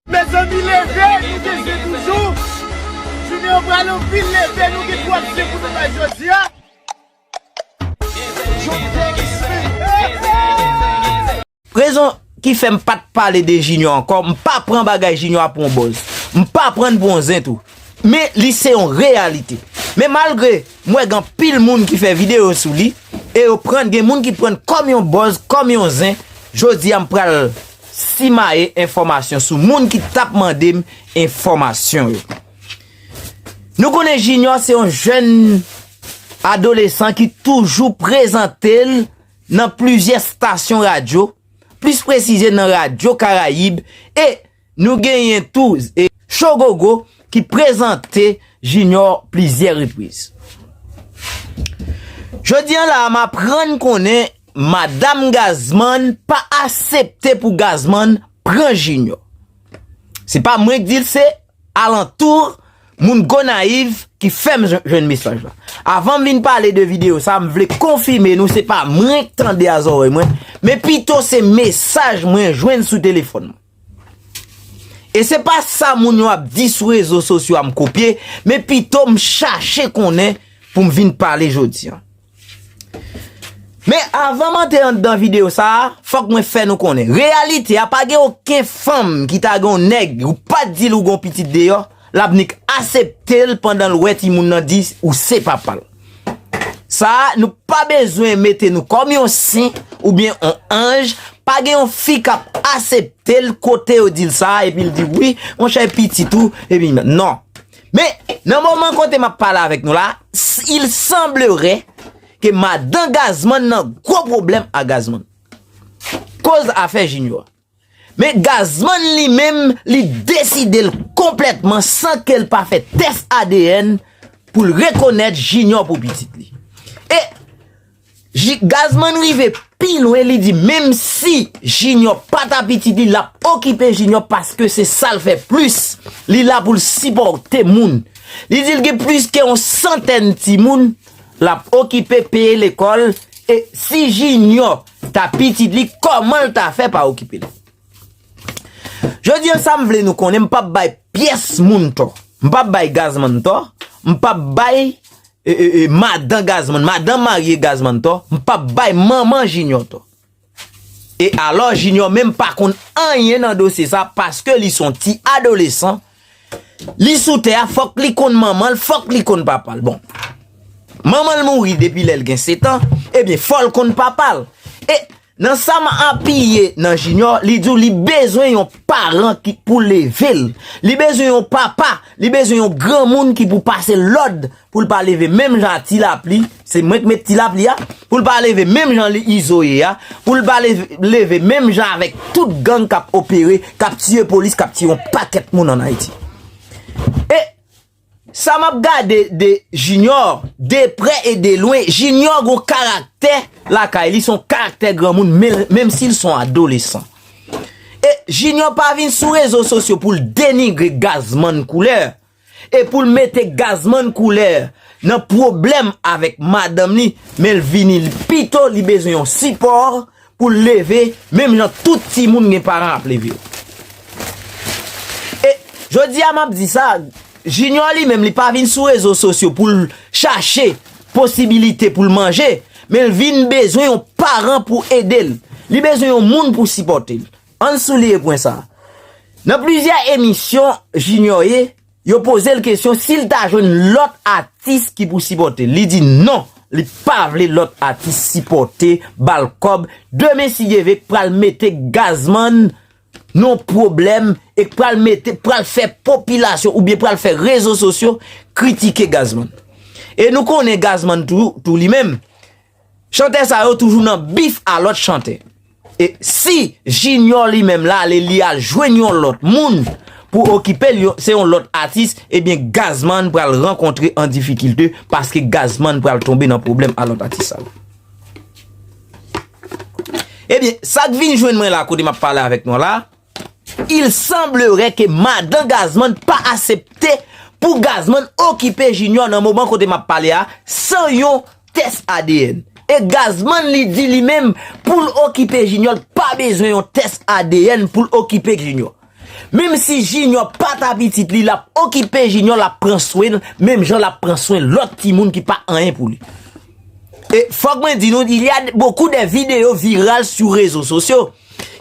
Mezanmi leve nou gen zen toujou jounen an pral anpil leve nou gen twòp zen pou nou bay jodia. Rezon ki fè m pat pale de Junior ankò m pa pran bagay Junior a pou yon buzz m pa pran l pou yon zen tou men li se yon reyalite men malgre m wè gen anpil moun ki fè video sou li e yo pran gen moun ki pran l kòm yon buzz kòm yon zen jodia m pral Simaye enfòmasyon sou moun ki tap mande m enfòmasyon yo. Nou konnen Jinyò se yon jèn adolesan ki toujou prezante l nan plizyè stasyon radyo, plis presize nan radyo Karayib e nou genyen tou Shogogo ki prezante Jinyò plizyè repriz. Jodi an la a m aprann konnen. Madam Gazman pa asepte pou Gazman pran Junior. Se pa mwen k di l se alantour moun Gonayiv ki fè m jwenn mesaj la. Avan m vin pale de videyo sa m vle konfime nou se pa mwen k tande a zòrèy mwen men pito se mesaj mwen jwenn sou telefòn mwen. E se pa sa moun yo ap di sou rezo sosyo a m kopye, men pito m chache konnen pou m vin pale jodi an. Men avan m antre anndan videyo sa a, fòk mwen fè nou konnen, reyalite a pa gen oken fanm ki ta gen yon nèg ou pa di l ou gen yon pitit deyò, Lap nik aseptel pandan l wè timoun nan di ou se papal. Sa nou pa bezwen mete nou kòm yon sen oubyen yon anj, pa gen yon fi kap aseptel kote yo dil sa epi l di wi monchè e pitit ou epi non. Men nan moman kote map pale avèk nou la, il semblere ke madan Gazman nan gwo pwoblèm a Gazman. Koz afè Junior. Men Gazman li menm li deside l konplètman san ke l pa fè tès adn pou l rekonèt Jinyò pou pitit li. E Ji, Gazman rive pi lwen li di menm si Jinyò pa ta pitit li l ap okipe Jinyò paske se sa l fè plis, li la pou l sipòte moun. Li di l gen plis ke yon santèn timoun l ap okipe, peye lekòl e si Jinyò. Ta pitit li komanl ta fè pa okipel. Jodi an sam vle nou konnen m pap bay pyès moun tò. M pap bay gazman tò, m pap bay madan gazman, madan marye gazman tò, m pap bay manman jinyò tò. E alò jinyò menm pa konn anyen nan dosye sa paske li son ti adolesan. Li sou tè a fòk li konn manman l, fòk li konn papa l. Bon, manman l mouri depi lè l gen setan, ebyen fò l konn papa l. E, nan sa m apiye nan Jinyò, li di w li bezwen yon paran ki pou leve l. Li bezwen yon papa, li bezwen yon granmoun ki pou pase lòd Pou l pa leve menm jan ak ti lapli, se mwen k met ti lapli a, pou l pa leve menm jan li izo ye a, pou l pa leve menm jan avèk tout gang k ap opere, k ap tiye polis, k ap tiye yon pakèt moun an Ayiti. E, sa m ap gade de Junior, de prè e de lwen, Junior gwo karaktè lakay li, son karaktè granmoun, menm si l son adolesan. E, Junior pa vin sou rezo sosyo pou l denigre Gazman Couleur, E poul mete Gazman couleur nan pwoblèm avèk madanm li menl vini pito li bezwen yon sipò poul leve menm jan tout timoun gen paran ap leve yo. E jodia map di sa Junior li menm li pa vin sou rezo sosyo poul chache posibilite poul manje menl vin bezwen yon paran pou edel li bezwen yon moun pou sipòtel. An n souliye pwen sa a. Nan plizyè emisyon Junior ye, yo poze l kesyon si l ta jwenn lòt atis ki pou sipòte l. Li di non, li pa vle lòt atis sipòte, ba l kòb. Demen si Dye ve k pral mete Gazman nan pwoblèm e k pral mete, pral fè popilasyon oubyen pral fè rezo sosyo kritike Gazman. E nou konnen Gazman tou, tou li menm, Chantè sa yo toujou nan bif a lòt chantè. E si Junior li menm la ale li al jwenn yon lòt moun pou okipe l se yon lòt atis ebyen Gazzman pral rankontre an difikilte paske Gazzman pral tonbe nan pwoblèm a lòt atis sa yo. Ebyen sak vin jwenn mwen la kote map pale avèk nou la. Il semblerait ke madan Gazman pa asepte pou Gazman okipe Junior nan moman kote map pale a san yon tès adn. E Gazman li di li menm poul okipe Junior li pa bezwen yon tès adn poul okipe Junior. Menm si Junior pa ta pitit li lap okipe Junior lap pran swenl menm jan lap pran swen lòt timoun ki pa anyen pou li. E fòk mwen di nou, il y a beaucoup de videos virales sou rezo sosyo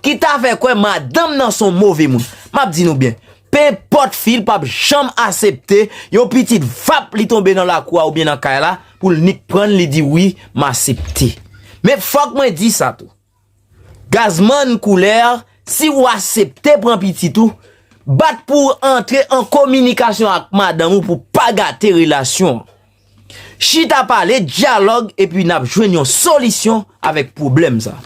ki ta fè kwè madanm nan son move moun. M ap di nou byen, penpòt fi l p ap janm asepte yon pitit vap li tonbe nan lakou a oubyen nan kay la pou l nik pran l li di wi m asepte. Men fòk mwen di sa tou, Gazman Couleur, si ou asepte pran pitit ou, bat pou w antre an kominikasyon ak madanm ou pou pa gate relasyon an. Chita pale, dyalòg epi n ap jwenn yon solisyon avèk pwoblèm sa.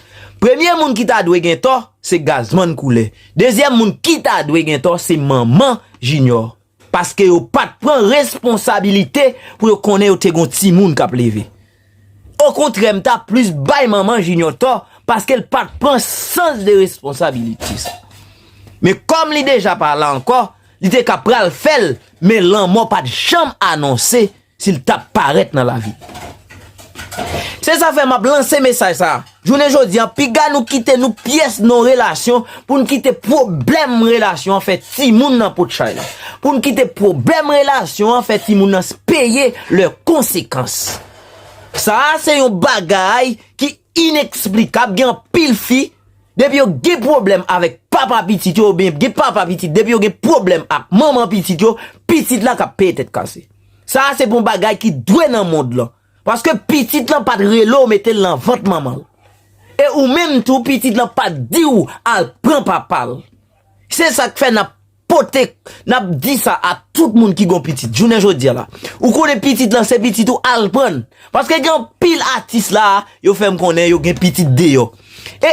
Premye moun ki ta dwe gen tò, se Gazman Couleur. Dezyèm moun ki ta dwe gen tò, se manman Junior. Paske yo pat pran responsabilite pou yo konnen yo te gon timoun kap leve. Okontrè m ta plis bay manman Junior tò paske l pat pran sans de responsabilite sa. Men kòm li deja pa la ankò, li te ka pral fè l men lanmò pat janm anonse Si l tap parèt nan lavi. Se sa fè map lanse mesaj sa a. Jounen jodi an, piga nou kite nou pyès nan yon relasyon pou n kite pwoblèm relasyon an fè timoun nan pot chay la. Pou n kite pwoblèm relasyon an fè timoun nan peye lè konsekans. Sa a se yon bagay ki. Inexplicable gen anpil fi depi yo gen problème avek papa pitit yo oubyen gen papa pitit depi yo gen problème ak manman pitit yo pitit la kap peye tèt kase sa a se pou bagay ki dwe nan mond lan paske pitit lan pat rele w mete l nan vant manman l e ou menm tou pitit lan pat di w al pran papa l se sak fè nap pote nap di sa a tout moun ki gon pitit jounen jodia la ou konnen pitit lan se pitit ou al prann paske gen anpil atis la a yo fèm konnen yo gen pitit deyò e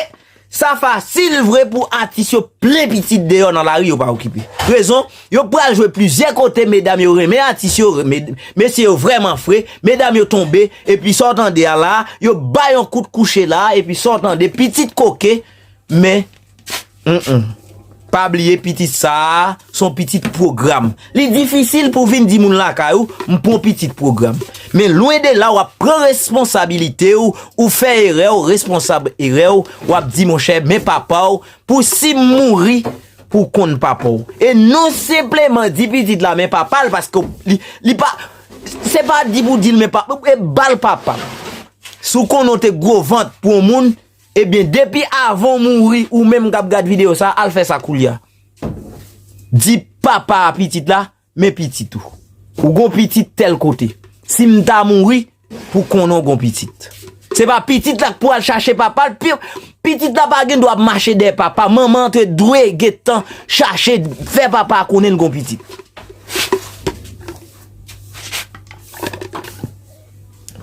sa fasil vre pou atis yo plen pitit deyò nan lari yo pa okipe rezon yo pral jwe plizyè kote medam yo renmen atis yo mesye yo vrèman fre medam yo tonbe epi sa w tande a la a yo bay yon kout kouche la a epi sa w tande pitit koke men Pa bliye pitit sa a son pitit pwogram. Li difisil pou vin di moun lakay ou, m pon pitit pwogram. Men lwen de la w ap pran responsabilite ou, ou fè erè ou responsab erè ou, w ap di monchè men papa ou pou si m mouri pou w konn papa ou. E non senpleman di pitit la men papa l paske li pa, se pa di pou di l men papa, e ba l papa. Si w konnen w te gwo vant pou yon moun. Ebyen depi avan w mouri ou menm kap gad video sa al fè sa koulya di papa pitit la men pitit ou ou gon pitit tèl kote sim ta mouri pou konnen w gon pitit se pa pitit la k pou al chache papa l pitit la pa gen dwa ap mache dèyè papa manman an te dwe gentan chache fè papa konnen l gon pitit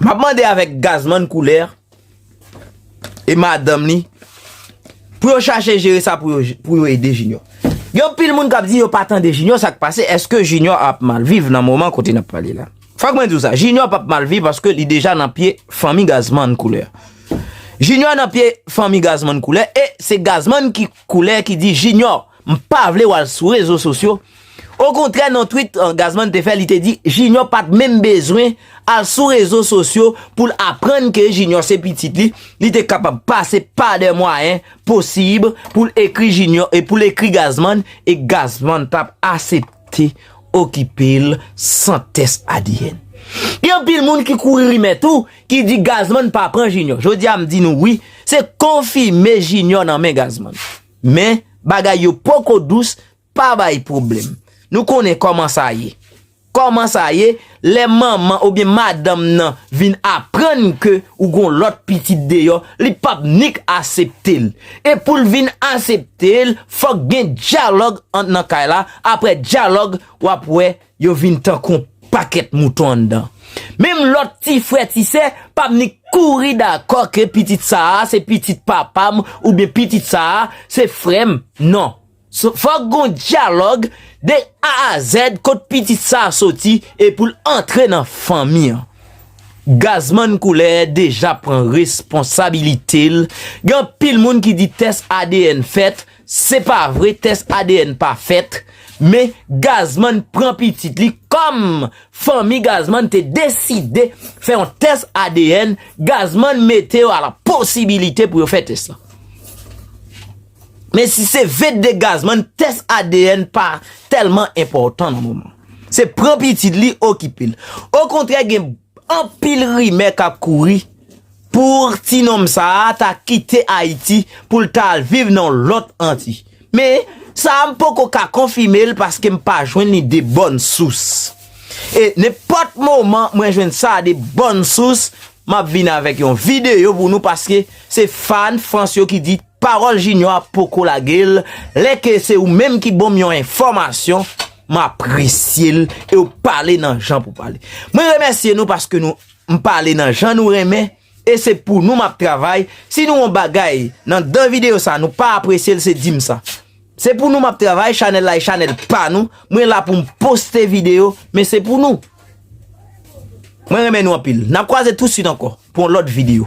map mande avèk gazman koulè. e madanm li pou yo chache jere sa pou yo ede Junior. Gen anpil moun k ap di yo pa tande Junior sa k pase, èske Junior ap mal viv nan moman kote n ap pale la? Fòk mwen di w sa, Junior p ap mal viv paske li deja nan pye fanmi Gazzman Couleur. Junior nan pye fanmi Gazzman Couleur e se Gazzman ki. Koulè ki di Junior m pa vle wal sou rezo sosyo, okontrè nan twit Gazzman te fè li te di Junior pat menm bezwen al sou rezo sosyo poul aprann ke Junior se pitit li, li te kapab pase pa de mwayen posib poul ekri Junior e poul ekri Gazzman e Gazzman tap asepte okipel san tès adn. Gen anpil moun ki kouri rimè tou Ki di Gazman pa pran Junior. Jodi a m di nou wi, se konfime Junior nan men Gazman. Men, bagay yo poko dous, pa bay pwoblèm. Nou konnen kòman sa ye. Kòman sa ye, lè manman oubyen madanm nan vin aprann ke ou gon lòt pitit deyò, li pap nik asepte l. E pou l vin asepte l, fòk gen dyalòg ant nan kay la, aprè dyalòg, w ap wè Yo vin tankou yon pakèt mouton anndan. Menm lòt ti frè ti sè pa vni kouri dakò ke pitit sa a se pitit papa m oubyen pitit sa a se frè m. Non. Fòk gon dyalòg de A a Z kot pitit sa a soti e pou l antre nan fanmi an. Gazman Koulè deja pran responsabilite l. Gen anpil moun ki di tès adn fèt Se pa vre tès adn pa fèt, men Gazman pran pitit li kòm fanmi Gazman te deside fè yon tès adn, Gazman mete yo a la posibilite pou yo fè tès la. Men si se vin de Gazman tès adn pa tèlman enpòtan nan moman. Se pran pitit li okipe l. Okontrè gen anpil rimè k ap kouri Pour ti nonm sa a ta kite Ayiti pou l ta al viv nan yon lòt Anti. Men, sa a m poko ka konfime l paske m pa jwenn li de bòn sous. E nenpòt moman mwen jwenn sa a de bòn sous, m ap vin avèk yon videyo pou nou paske se fàn Frans yo ki di pawòl Jinyò a poko lage l, lè ke se ou menm ki ban m yon enfòmasyon, m apresye l e w pale nan jan pou pale. Mwen remèsye nou paske nou. M pale nan jan nou renmen e se pou nou map travay, si nou yon bagay nan dan video sa nou pa apresyel se dim sa. Se pou nou map travay, chanèl la e chanèl pa nou, mwen la poum poste video men se pou nou. Mwen renmen nou anpil, nap kwaze tout swit ankò pou yon lòt video.